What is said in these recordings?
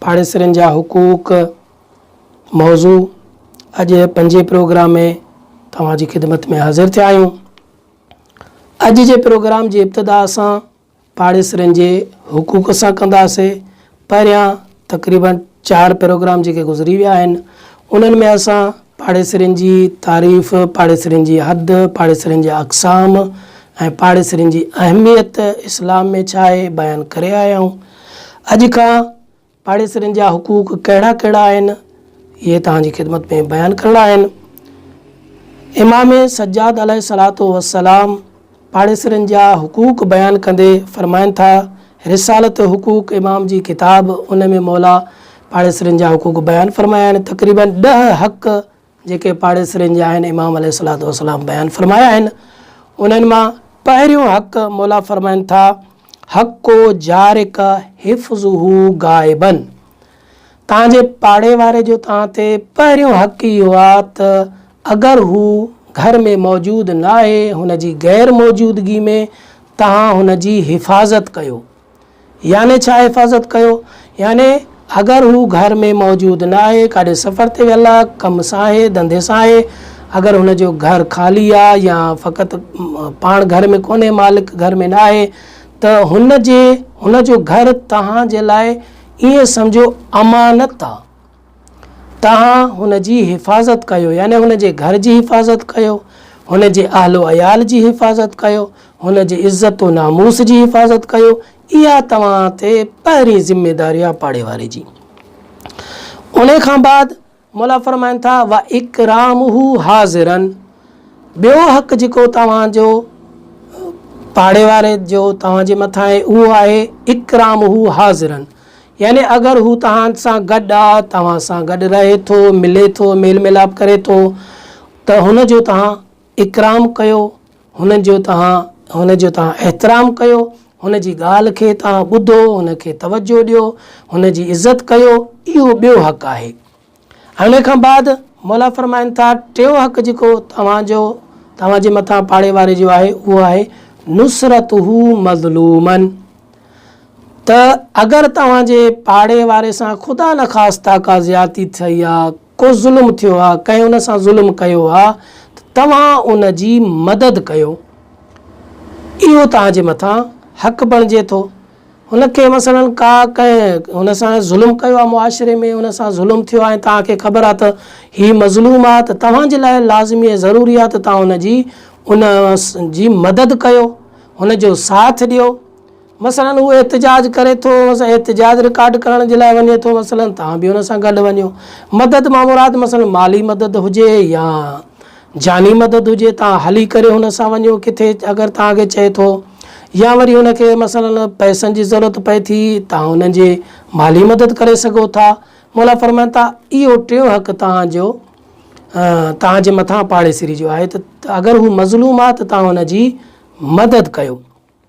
پاڙيسرين جا حقوق موضوع اڄ پنجين پروگرام ۾ توهان جي خدمت ۾ حاضر ٿيا آهيون. اڄ جي پروگرام جي ابتدا اسان پاڙيسرين جي حقوق سان ڪنداسي. پهريان تقريبن چار پروگرام جيڪي گذري ويا آهن انهن ۾ اسان پاڙيسرين جي تعريف، پاڙيسرين جي حد، پاڙيسرين جا اقسام ۽ پاڙيسرين جي اهميت اسلام ۾ ڇا آهي، بيان ڪري آيا آهيون. اڄ کان پاڙيسرين جا حقوق ڪهڙا ڪهڙا آهن، اهي توهان جي خدمت ۾ بيان ڪرڻا آهن. امام سجاد عليه الصلوة والسلام، پاڙيسرين جا حقوق بيان ڪندي فرمائن ٿا، رسالة حقوق امام جي ڪتاب ان ۾ مولا پاڙيسرين جا حقوق بيان فرمايا آهن، تقريباً ڏهه حق جيڪي پاڙيسرين جا آهن امام عليه الصلوة والسلام بيان فرمايا آهن، انهن مان پهريون حق مولا فرمائن ٿا، حق جارك حفظه غائباً، توهان جي پاڙي واري جو توهان تي پهريون حق اهو آ ته اگر هو گهر ۾ موجود ناهي هن جي غير موجودگي ۾ توهان هن جي حفاظت ڪيو. يعني ڇا حفاظت ڪيو؟ يعني اگر هو گهر ۾ موجود ناهي ڪاڏي سفر تي ويل آ، ڪم سان آهي، ڌنڌي سان آهي، اگر هن جو گهر خالي آ يا فقط پاڻ گهر ۾ ڪونهي مالڪ گهر ۾ ناهي ته هن جي هن جو گهر توهان جي لاء ائين سمجهو امانت آ، توهان هن جي حفاظت ڪيو، يعني هن جي گهر جي حفاظت ڪيو، هن جي اهل و عيال جي حفاظت ڪيو، هن جي عزت و ناموس جي حفاظت ڪيو، اها توهان تي پهرين ذميداري آ پاڙيواري جي. انهي کان بعد مولا فرمائن ٿا، واڪرامه حاضراً ٻيو حق جيڪو توهان جو پاڙي واري جو توهان جي مٿان آهي اهو آهي اڪرامه حاضراً يعني اگر هو توهان سان گڏ آ توهان سان گڏ رهي ٿو ملي ٿو ميل ميلاپ ڪري ٿو ته هن جو توهان اڪرام ڪيو، هن جو توهان هن جو توهان احترام ڪيو، هن جي ڳالهه کي توهان ٻڌو، هن کي توجهه ڏيو، هن جي عزت ڪيو، اهو ٻيو حق آهي. ۽ ان کان بعد مولا فرمائن ٿا ٽيون حق جيڪو توهان جو توهان جي مٿان پاڙي واري جو آهي اهو آهي نصرته مظلوما ته اگر توهان جي پاڙي واري سان خدا نخواسته ڪا زيادتي ٿئي يا ڪو ظلم ٿيو آ، ڪنهن ان سان ظلم ڪيو آ ته توهان ان جي مدد ڪيو، اهو توهان جي مٿان حق بڻجي ٿو. هن کي مثلاً ڪا ڪنهن هن سان ظلم ڪيو آ معاشري ۾ ان سان ظلم ٿيو آ ۽ توهان کي خبر آ ته هي مظلوم آ ته توهان جي لاء لازمي ۽ ضروري آ ته توهان هن جي ان جي مدد ڪيو، هن جو ساٿ ڏيو. مثلاً هو احتجاج ڪري ٿو، مثلاً احتجاج رڪارڊ ڪرڻ جي لاء وڃي ٿو، مثلاً توهان به ان سان گڏ وڃو. مدد مان مراد مثلاً مالي مدد هجي يا جاني مدد هجي، توهان هلي ڪري هن سان وڃو ڪٿي اگر توهان کي چئي ٿو يا وري هن کي مثلاً پئسن جي ضرورت پئي ٿي، توهان هن جي مالي مدد ڪري سگهو ٿا. مولا فرمائن ٿا، اهو ٽيون حق توهان جو توهان جي مٿان پاڙيسري جو آهي ته اگر هو مظلوم آهي ته توهان هن جي مدد ڪيو.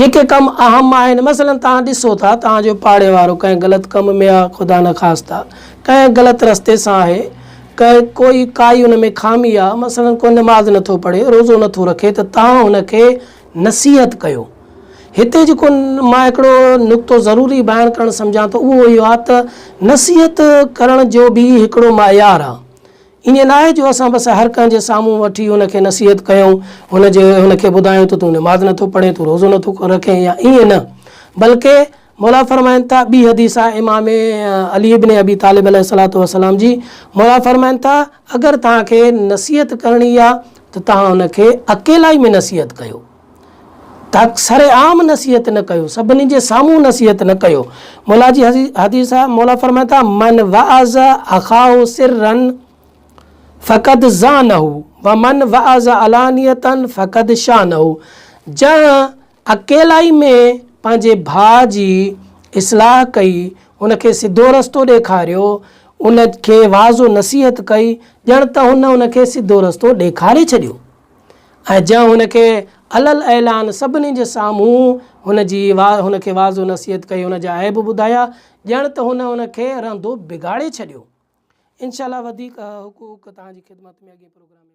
جيڪي ڪم اهم آهن مثلا توهان ڏسو ٿا توهان جو پاڙي وارو ڪنهن غلط ڪم ۾ آ خدا نخواسته ڪنهن غلط رستي سان آهي ڪنهن ڪوئي ڪائي ان ۾ خامي آ مثلا ڪو نماز نٿو پڙهي روزو نٿو رکي ته توهان هن کي نصيحت ڪيو هتي جيڪو مان هڪڙو نقطو ضروري بيان ڪرڻ سمجهان ٿو اهو اهو آ ته نصيحت ڪرڻ جو به هڪڙو معيار آ ائين ناهي جو اسان بس هر ڪنهن جي سامهون وٺي ان کي نصيحت ڪيون، هن جي هن کي ٻڌايون ته تون نماز نٿو پڙهين، تون روزو نٿو رکين يا ائين نه بلڪه موليٰ فرمائن ٿا ٻي حديث آهي امام علي بن ابي طالب عليه الصلوة والسلام جي موليٰ فرمائن ٿا اگر توهان کي نصيحت ڪرڻي آهي ته توهان ان کي اڪيلائي ۾ نصيحت ڪيو. ته سر عام نصيحت نه ڪيو، سڀني جي سامهون نصيحت نه ڪيو. مولا جي حديث آ، مولا فرمائي ٿا، من وعظ اخاه سرا فقد زانه ومن وعظ علانية فقد شانه جنهن اڪيلائي ۾ پنهنجي ڀاء جي اصلاح ڪئي، ان کي سڌو رستو ڏيکاريو، ان کي وعظ و نصيحت ڪئي، ڄڻ ته هن ان کي سڌو رستو ڏيکاري ڇڏيو. ۽ جنهن هن کي علي الاعلان سڀني جي سامهون هن جي هن کي وعظ و نصيحت ڪئي هن جا عيب ٻڌايا ڄڻ ته هن هن کي رهندو بگاڙي ڇڏيو انشاء الله وڌيڪ حقوق توهان جي خدمت ۾ اڳئين پروگرام ۾